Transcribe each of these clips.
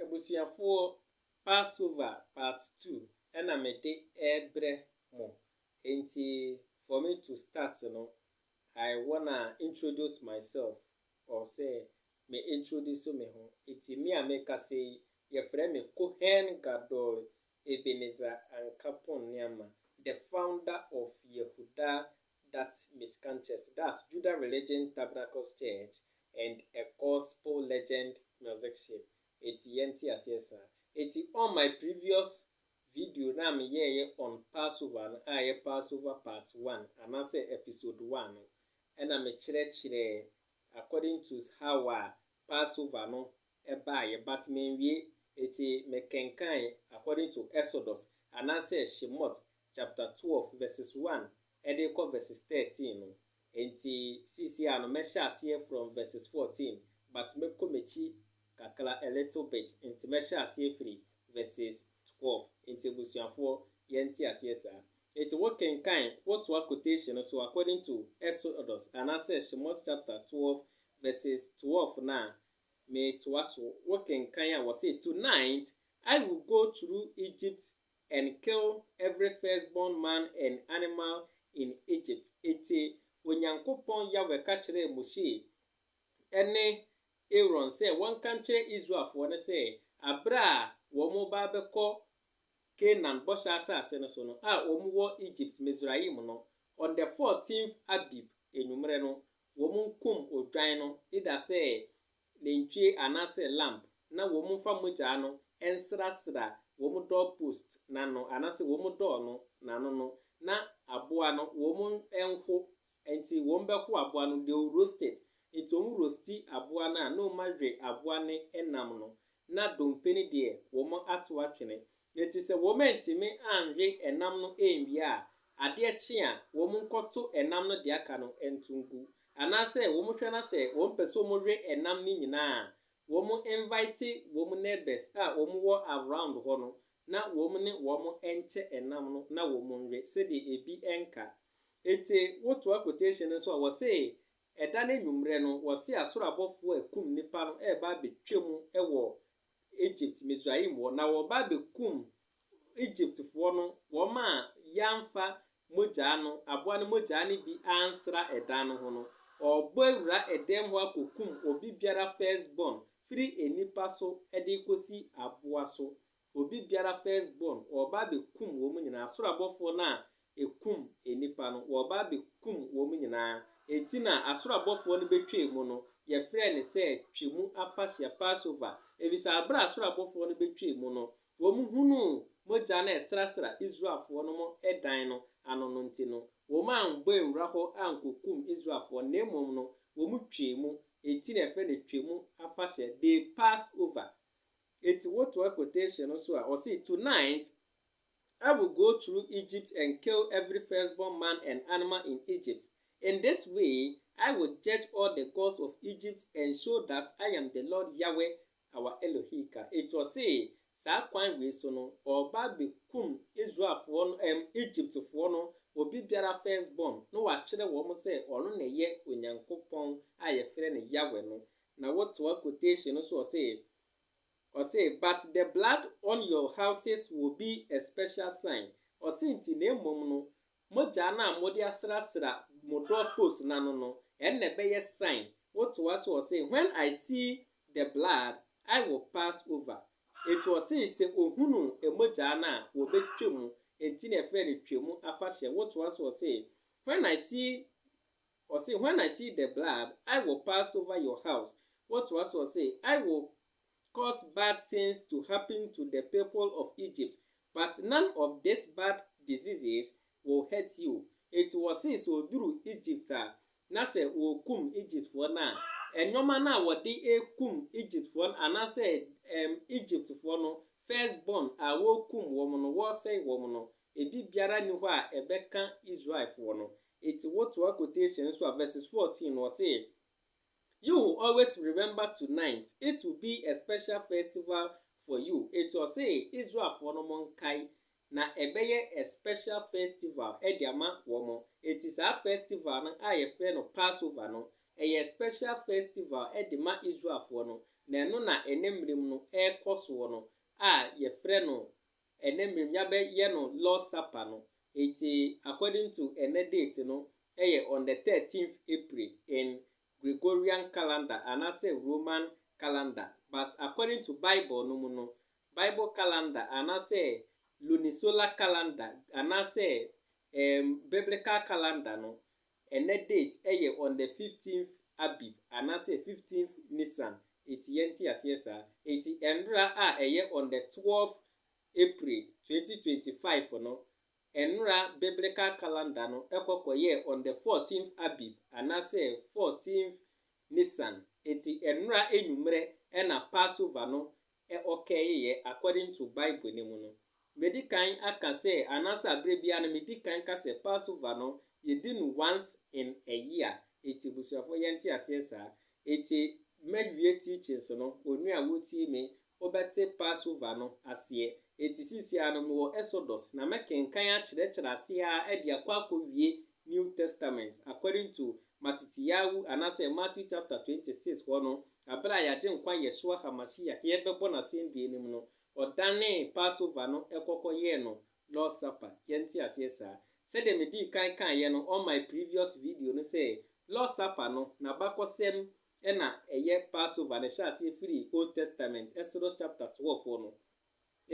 Abusuafoɔ Passover part two ɛna me de ɛbrɛ mo enti for me to start no I wanna introduce myself or sɛ me introduce me ho enti me a me kasa yi yɛfrɛ me Cohen Gadol Ebenezer Ankapong Nuamah the founder of Yehudah that miscanthus das Juda Religion Tabernacles Church and a Gospel Legend Musicship eti yɛnte aseɛ saa. Eti on my previous video no a me yɛɛyɛ on Passover no a ɛyɛ Passover part one anaasɛ episode one no ɛna me kyerɛkyerɛɛ according to how a Passover no ɛbaeɛ but menwie eti me kenkan according to Exodus anaasɛ Shemot chapter twelve verses one ɛde kɔ verses thirteen no, enti seesei ara no mɛhyɛ aseɛ from verses fourteen but mɛkɔ m'akyi kakra a little bit nti mɛhyɛ aseɛ firi verses twelve nti abusuafoɔ yɛnte aseɛ saa. Enti wo kenkan, wo toa quotation no so according to Exodus anaasɛ Shemos chapter twelve verses twelve no a metoa so, wo kenkan a wɔse tonight I will go through Egypt and kill every firstborn man and animal in Egypt. Enti Onyankopɔn Yahweh ka kyerɛɛ Mose ne Aaron sɛ wɔnka nkyerɛ Israelfoɔ no sɛ, Berɛ a wɔreba abɛkɔ Kanaan bɔhyɛ asase no so no, a wɔwɔ Egypt, Misraim, no, on the fourteenth Abib anwummerɛ no, wɔnkum odwan no, either sɛ nantwie anaasɛ lamb na wɔmfa mogyaa no nsrasra wɔn doorpost no ano anaasɛ wɔn door no n'ano no, na aboa no wɔnho, nti wɔbɛho aboa no, they will roast it, nti wɔn roasti aboa no a na wɔawe aboa no nam no, na dompe no deɛ wɔato atwene, Na enti sɛ wɔantumi anwe ɛnam no anwie a, adeɛ kye a, wɔnkɔto ɛnam no deɛ aka no nto ngu. Anaasɛ wɔhwɛ na sɛ wɔpɛ sɛ wɔwe ɛnam no nyinaa a, wɔn invite wɔn neighbours a wɔwɔ around hɔ no na wɔn ne wɔn nkyɛ ɛnam no na wɔnwe sɛdeɛ ebi nka. Enti wotoa quotation no nso a, wɔse ɛda no anwummerɛ no, wɔse asoro abɔfoɔ a ɛkum nnipa no reba abɛtwam wɔ Egypt, Misraim hɔ, na wɔba abɛkum Egyptfoɔ no, wɔn a yɛamfa mogyaa no, aboa no mogyaa no bi ansra ɛdan no ho no, ɔrebɔ awura ɛdɛm hɔ akɔkum obi biara first born, firi nnipa so de kɔsi aboa so, obi biara first born, ɔreba abɛkum wɔn nyinaa, soro abɔfoɔ no a ekum nnipa no, wɔreba abekum wɔn nyinaa. Enti na asoro abɔfoɔ no betwaa mu no, yɛfrɛɛ no sɛ Twam Afahyeɛ, Passover, efisɛ bere a asoro abɔfoɔ no betwaa mu no, wɔhunuu mogya no a ɛsrasra Israelfoɔ no mo dan no ano no nti no, wɔammɔ anwura hɔ ankokum Israelfoɔ no, na mmom no, wɔtwaa mu. Enti na yɛfrɛ no Twam Afahyeɛ, they passed over. Enti wotoa quotation no so a, ɔse, Tonight, I will go through Egypt and kill every firstborn man and animal in Egypt. In this way, I will judge all the gods of Egypt and show that I am the Lord Yahweh, our Elohika. Enti ɔse, saa kwan wei so no, ɔreba abɛkum Israelfoɔ no, ɛm, Egyptfoɔ no, obi biara firstborn, na wakyerɛ wɔn sɛ ɔno na ɛyɛ Onyankopɔn a yɛfrɛ no Yahweh no. Na wotoa quotation no so ɔse, Ɔse but the blood on your houses will be a special sign, ɔse nti na mmom no mogyaa no a mode asrasra mo door post no ano no ɛnna ɛbɛyɛ sign, wotoa so ɔse when I see the blood I will pass over, enti ɔse sɛ ohunu mogyaa no a wɔbɛtwa mu, enti na ɛfrɛ no Twam afahyɛ, wotoa so ɔse when I see Ɔse, When I see the blood, I will pass over your house. Wɔtoa so se, I will cause bad things to happen to the people of Egypt, but none of these bad diseases will hurt you. Enti wɔse sɛ ɔduru Egypt a, na sɛ wɔrekum Egyptfoɔ no a, nnoɔma no a wɔde rekum Egyptfoɔ no anaasɛ Egyptfoɔ no first born a wɔrekum wɔn no, wɔresɛe wɔn no, Ebi biara nni hɔ a ɛbɛka Israelfoɔ no. Enti wotoa quotation no so a, verses fourteen no, ɔse, You will always remember tonight, it will be a special festival for you. Enti ɔse Israelfoɔ no monkae, na ɛbɛyɛ a special festival de ama wɔn. Enti saa festival no a yɛfrɛ no Passover no, ɛyɛ special festival de ma Israelfoɔ no, na ɛno na ɛnnɛ mmerɛ mu no ɛrekɔ soɔ no a yɛfrɛ no Ɛnnɛ mmerɛ mu yabɛ yɛ no Lord's supper no enti according to ɛnnɛ date no ɛyɛ on the thirteenth April in Gregorian calendar anaasɛ Roman calendar but according to bible no mu no bible calendar anaasɛ lunisolar calendar anaasɛ ɛɛm biblical calendar no Ɛnnɛ date ɛyɛ on the fifteenth Abib anaasɛ fifteenth Nissan eti yɛnte aseɛ saa. Eti ɛnora a ɛyɛ on the twelfth April twenty twenty five no, ɛnora biblical calendar no ɛkɔ kɔyɛɛ on the fourteenth Abib anaasɛ fourteenth Nissan. Eti ɛnora enyumerɛ ɛna Passover no ɛ ɔkɛɛ yɛ according to Bible no mu no, medi kan aka sɛ anaasɛ aberɛ biara no medi kan ka sɛ Passover no yɛdi no once in a year, enti abusuafoɔ yɛnte aseɛ saa. Enti mawie teachings no, onua a wotie me, wobɛte Passover no aseɛ. Enti seesei ara no mewɔ Exodus na mɛkenkan akyerɛkyerɛ aseɛ ara de akɔ akɔwie New Testament according to Matityahu anaasɛ Matthew chapter 26 hɔ no, aber a Yɛagyenkwa Yeshua HaMashiach yɛbɛbɔ n'asɛndua no mu no, Ɔdanee Passover no kɔ kɔyɛɛ no Lord's Supper. Yɛnte aseɛ saa? Sɛdeɛ medii kan kaeɛ no on my previous video no sɛ, Lord's Supper no, n'abakɔsɛm na ɛyɛ Passover no, ɛhyɛ aseɛ firi Old Testament, Exodus chapter 12 hɔ no.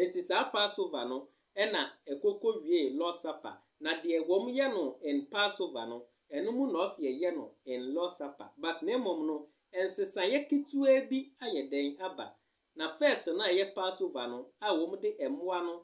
Enti saa Passover no na ɛkɔkɔwiee Lord's Supper, na deɛ wɔn yɛ no in Passover no, ɛno mu na ɔse yɛyɛ no in Lord's Supper, but na mmom no, nsesaeɛ ketewaa bi ayɛ dɛn aba, na first no a ɛyɛ Passover no a wɔn de mmoa no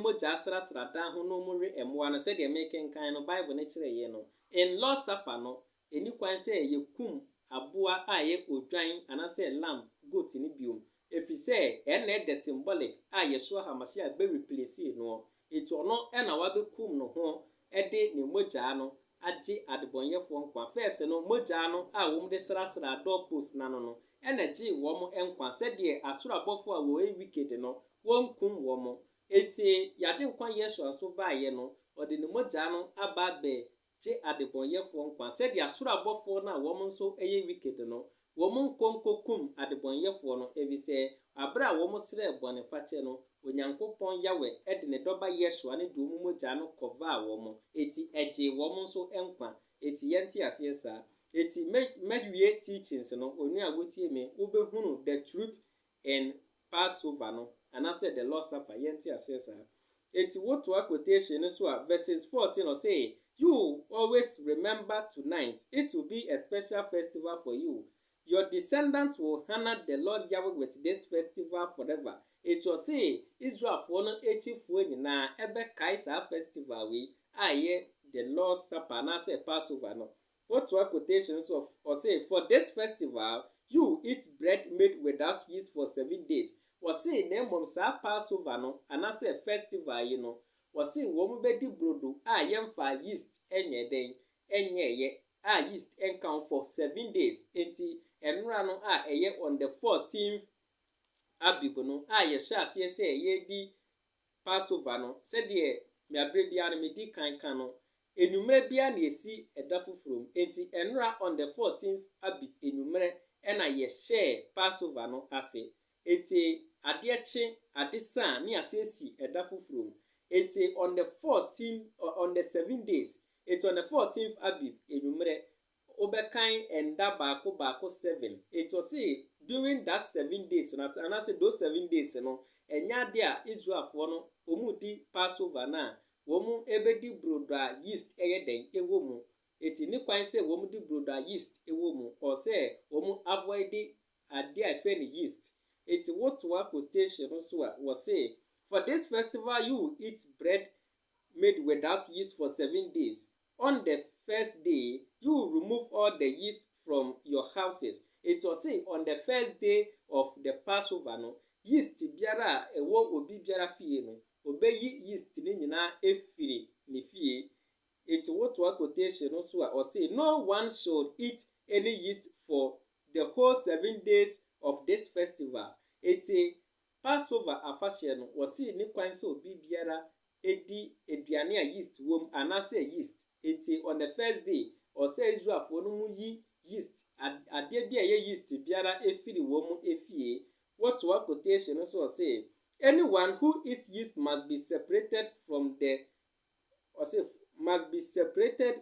mogya asrasra dan ho na wɔwe mmoa no, sɛdeɛ mekenkan no, Bible no kyerɛeɛ no, in Lord's Supper no, Enni kwan sɛ yekum aboa a ɛyɛ odwan anaasɛ lamb, goat no biom, efisɛ ɛno na ɛdɛ symbolic a Yeshua HaMashiach bɛ replace noɔ. Enti ɔno na wabɛkum no ho de ne mogyaa no agye adebɔnyɛfoɔ nkwa. First no, mogyaa no a wɔde srasraa door post no ano no na gyee wɔn nkwa, sɛdeɛ asoro abɔfoɔ a wɔyɛ wicked no, wɔnkum wɔn. Enti y'Agyenkwa Yeshua nso baeɛ no, ɔde ne mogyaa no aba abɛ gye adebɔnyɛfoɔ nkwa sɛdeɛ soro abɔfoɔ no a wɔn nso yɛ wicked no, wɔn nkɔ nkɔkum adebɔnyɛfoɔ no, ɛfiri sɛ berɛ a wɔn srɛɛ bɔnefakyɛ no, Onyankopɔn Yahweh de ne Dɔba Yesua no de wɔn mogya no kɔvaa wɔn, enti ɛgyee wɔn nso nkwa. Enti yɛnte aseɛ saa. Enti mɛ, mɛwie teachings no, onua a wotie me, wobɛhunu the truth en, Passover no, anaasɛ the Lord's Supper, yɛnte aseɛ saa. Enti wotoa quotation no so a, verses fourteen, ɔse, You will always remember tonight, it will be a special festival for you, your descendants will honour the Lord Yahweh with this festival forever. Enti ɔse Israelfoɔ no akyifoɔ nyinaa ɛbɛkae saa festival wei a ɛyɛ the Lord's Supper anaasɛ Passover no, Wotoa quotations of Ɔse for this festival you will eat bread made without yeast for seven days Ɔse na mmom saa Passover no anasɛ festival yi no ɔse wɔn bɛdi brodo a yɛmfaa yeast nyɛɛ dɛn? nyɛɛyɛ a yeast nka ho for seven days Enti nnora no a ɛyɛ on the fourteenth Abib no a yɛhyɛ aseɛ sɛ yɛredi Passover no, sɛdeɛ mea berɛ biara no medi kan ka no, anwummerɛ biara na yɛsi ɛda foforɔ mu. Enti ɛnnora on the fourteenth Abi anwummerɛ na yɛhyɛɛ Passover no ase. Enti adeɛ kye, ade sa a, ne yɛasan asi ɛda foforɔ mu. Enti on the fourteen, on the seven days, enti on the fourteenth Abi anwummerɛ Wo bɛ kan ɛnda baako baako seven. Nti ɔse during that seven days no ase anaase those seven days no ɛnyɛ adeɛ a Israelfoɔ no ɔmo di Passover no a ɔmo bɛ di brodo a yeast ɛyɛ dɛn ɛwɔ mu. Nti ne kwan sɛ ɔmo di brodo a yeast ɛwɔ mu ɔɔ sɛ ɔmo avoid adeɛ a ɛfrɛ no yeast. Nti wo toa quotation no so a wɔse for this festival you will eat bread made without yeast for seven days On the first day you will remove all the yeast from your houses. Enti ɔse on the first day of the Passover no, yeast biara a ɛwɔ obi biara fie no, ɔbɛyi yeast no nyinaa afiri ne fie. Enti wotoa quotation no so a, ɔse no one should eat any yeast for the whole seven days of this festival. Enti Passover afahyɛ no, wɔsii ne kwan sɛ obi biara di aduane a yeast wom anaasɛ yeast. Enti on the first day, ɛwɔ sɛ Israelfo no mu yi yeast, adeɛ bi a ɛyɛ yeast biara firi wɔn mu fie. Wotoa quotation no so a, ɔse, Anyone who eats yeast must be separated from the, ɔse, must be separated,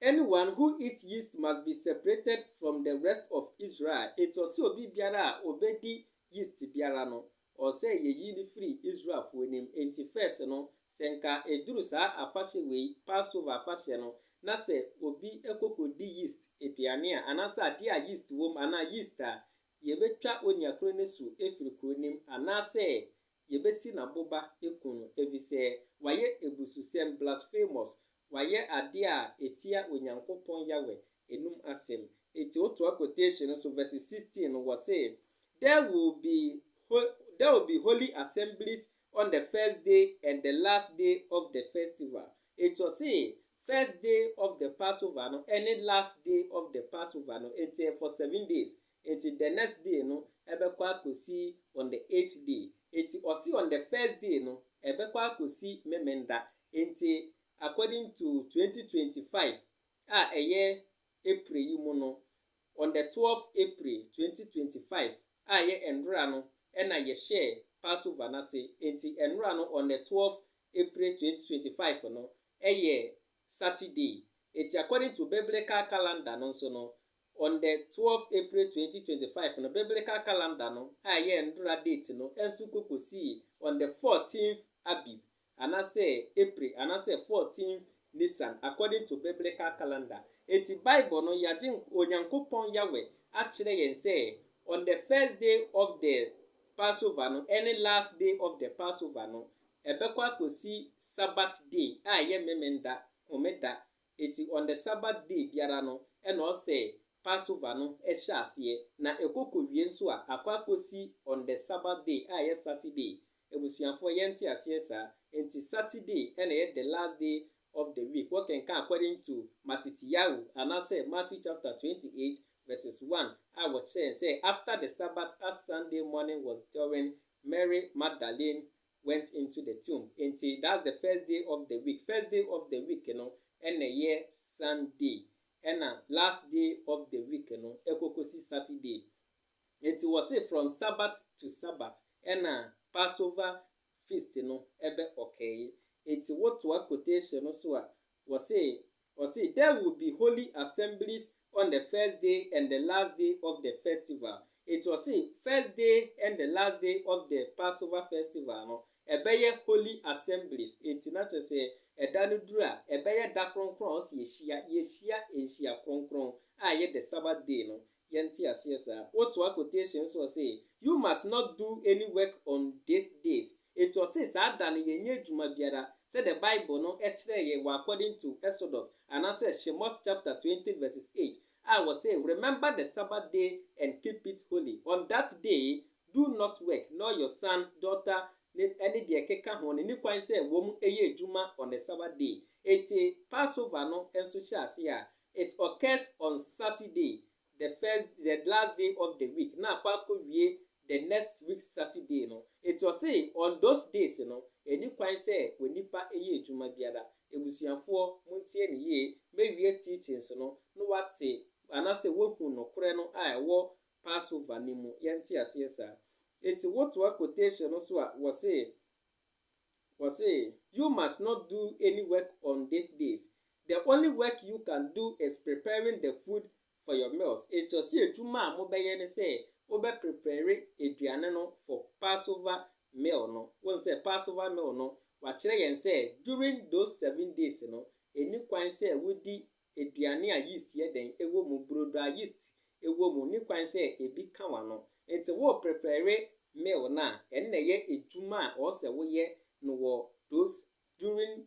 Anyone who eats yeast must be separated from the rest of Israel, enti ɔse obi biara a obedi yeast biara no, ɔsɛ yeyi no firi Israelfoɔ no mu, enti first no, sɛ nka ɛduru saa afahyɛ wei, Passover afahyɛ no, na sɛ obi kɔkɔdi yeast aduane a, anaasɛ adeɛ a yeast wɔ mu, anaa yeast a, yɛbɛtwa onua korɔ no asu afiri kuro no mu, anaasɛ Yɛbɛsi no aboba aku no, efisɛ wayɛ abususɛm, blasphemous, wayɛ adeɛ a ɛtia Onyankopɔn Yahweh anom asɛm. Enti wotoa quotation no so, verse 16 no, wɔse, There will be, there will be holy assemblies on the first day and the last day of the festival. Enti ɔse, first day of the Passover no, ɛne last day of the Passover no, enti ɛyɛ for seven days, Enti the next day no ɛbɛkɔ akɔsi on the eighth day. Enti ɔse on the first day no ɛbɛkɔ akɔsi Memenda. Enti according to twenty twenty five a ɛyɛ April yi mu no, on the twelve April twenty twenty five a ɛyɛ nnora no ɛna yɛhyɛɛ Passover no ase. Enti nnora no on the twelve April twenty twenty five no ɛyɛ Saturday. Enti according to biblical calendar no nso no On the twelve April twenty twenty five no biblical calendar no a ɛyɛ Ndora date no nso kɔ kosii on the fourteenth Abib anasɛ April anasɛ fourteenth Nisan according to biblical calendar. Enti Bible no yɛagye Onyankopɔn Yahweh akyerɛ yɛn sɛ on the first day of the Passover no ne last day of the Passover no ɛbɛkɔ akosi Sabbath day a ɛyɛ Memenda, Homeda, Enti on the Sabbath day biara no na ɔsɛ Passover no hyɛ aseɛ, na ɛkɔ kɔwie nso a akɔ akɔsi on the Sabbath day a ɛyɛ Saturday. Abusuafoɔ yɛn nte aseɛ saa? Enti Saturday na ɛyɛ the last day of the week, wo kenkan according to Mattityahu anaasɛ Matthew chapter twenty eight verses one a wɔkyerɛ yɛn sɛ after the Sabbath as Sunday morning was during Mary Magdalene went into the tomb nti that's the first day of the week first day of the week no ɛna ɛyɛ Sunday ɛna last day of the week no ɛkɔkɔsi Saturday nti wɔse from Sabbath to Sabbath ɛna Passover feast no ɛbɛ ɔkɛɛye nti wotoa quotation no so a Wɔse wɔse there will be holy assemblies on the first day and the last day of the festival, enti wɔse first day and the last day of the Passover festival no ɛbɛyɛ holy assemblies, enti na kyerɛ sɛ ɛda no duru a ɛbɛyɛ da kronkron a wɔse yɛhyia, yɛhyia nhyia kronkron a ɛyɛ the Sabbath day no, yɛnte aseɛ saa. Wotoa quotation nso ɔse you must not do any work on this days enti ɔse saa da no yɛnyɛ adwuma biara sɛdeɛ bible no kyerɛɛ yɛn wɔ according to Exodus anaasɛ Shemot chapter twenty verses eight a wɔse remember the Sabbath day and keep it holy on that day do not work nor your son, daughter ne ɛne deɛ ɛkeka ho no nni kwan sɛ wɔn yɛ adwuma on the Sabbath day enti Passover no nso hyɛ aseɛ a It occurs on Saturday, the first the last day of the week na akɔ akɔwie the next week Saturday no. Enti ɔse on those days no, ɛnni kwan sɛ onipa yɛ adwuma biara. Abusuafoɔ, montie me yie, mɛwie teachings no na woate anaasɛ woahu nokorɛ no a ɛwɔ Passover no mu. Yɛnte aseɛ saa? Enti wotoa quotation no so a, wɔse, wɔse, You must not do any work on these days, The only work you can do is preparing the food for your meals. Ɛkyerɛ sɛ adwuma a mobɛyɛ ne sɛ wobɛ prepare aduane no for Passover meal no. Wohu sɛ Passover meal no, wɔakyerɛ yɛn sɛ during those seven days no, ɛnni kwan sɛ wodi aduane a yeast yɛ dɛn wɔ mu, burodo a yeast wɔ mu, nni kwan sɛ ɛbi ka w'ano. Enti wo prepare meal no a, ɛno na ɛyɛ adwuma a ɔwɔ sɛ woyɛ no wɔ those during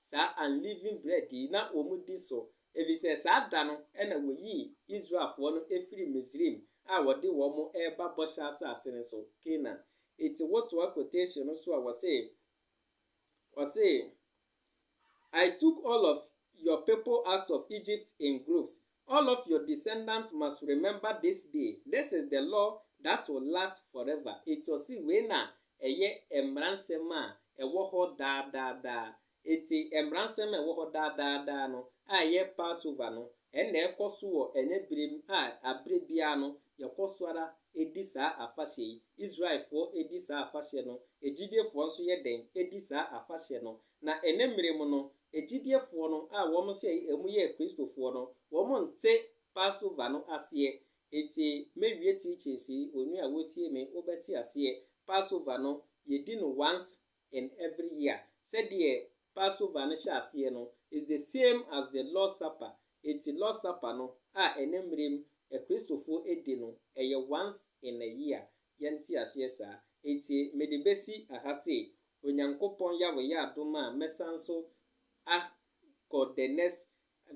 saa unleavened bread yi na wɔdi so, efisɛ saa da no na woyii Israelfoɔ no firii Misraim a wɔde wɔn reba Bɔhyɛ Asase no so, Canaan. Enti wotoa quotation no so a wɔse, wɔse, I took all of your people out of Egypt in groups, All of your descendants must remember this day, this is the law that will last forever. Enti ɔse wei na ɛyɛ mmaransɛm a ɛwɔ hɔ daa daa daa. Enti mmaransɛm a ɛwɔ hɔ daa daa daa no a ɛyɛ Passover no, ɛnna ɛkɔ so wɔ ɛnnɛ bere mu a bere biara no yɛkɔ so ara di saa afahyɛ yi. Israelfoɔ di saa afahyɛ no, agyidifoɔ nso yɛ dɛn? Di saa afahyɛ no. Na ɛnnɛ mmere mu no, agyidiefoɔ no a wɔn hyɛ yi ɛmu yɛ Kristofoɔ no, wɔn nte Passover no aseɛ. Enti mɛwie teachings yi, onua a wotie me, wobɛte aseɛ. Passover no, yɛdi no once in every year. Sɛdeɛ Passover no hyɛ aseɛ no, is the same as the Lord's Supper. Enti Lord's Supper no a ɛnnɛ mmerem Akristofoɔ di no, ɛyɛ once in a year. Yɛnte aseɛ saa? Enti mede bɛsi ha sei, Onyankopɔn ya wɔ yɛ adom a mɛsan so a kɔ the next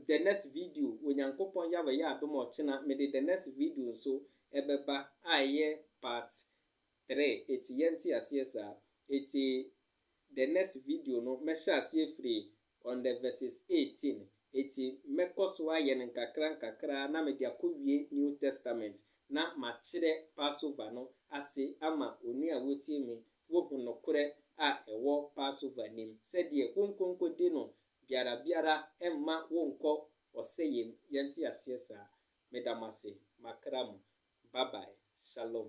the next video Onyankopɔn ya wɔ yɛ adom a ɔkyena me de the next video nso ɛbɛba a ɛyɛ part three eti yɛnte aseɛ saa eti the next video no mɛhyɛ aseɛ firi On the verses 18, Eti mɛkɔ so ayɛ no nkakrankakra na mede akowie New Testament na makyerɛ Passover no ase ama onua a wotie me, wohu nokorɛ a ɛwɔ Passover nim, sɛdeɛ wonkonkɔdi no biara biara mma wonkɔ ɔsɛeɛ mu, yɛnte aseɛ saa? Meda mo ase, makra mo. Bye bye. Shalom.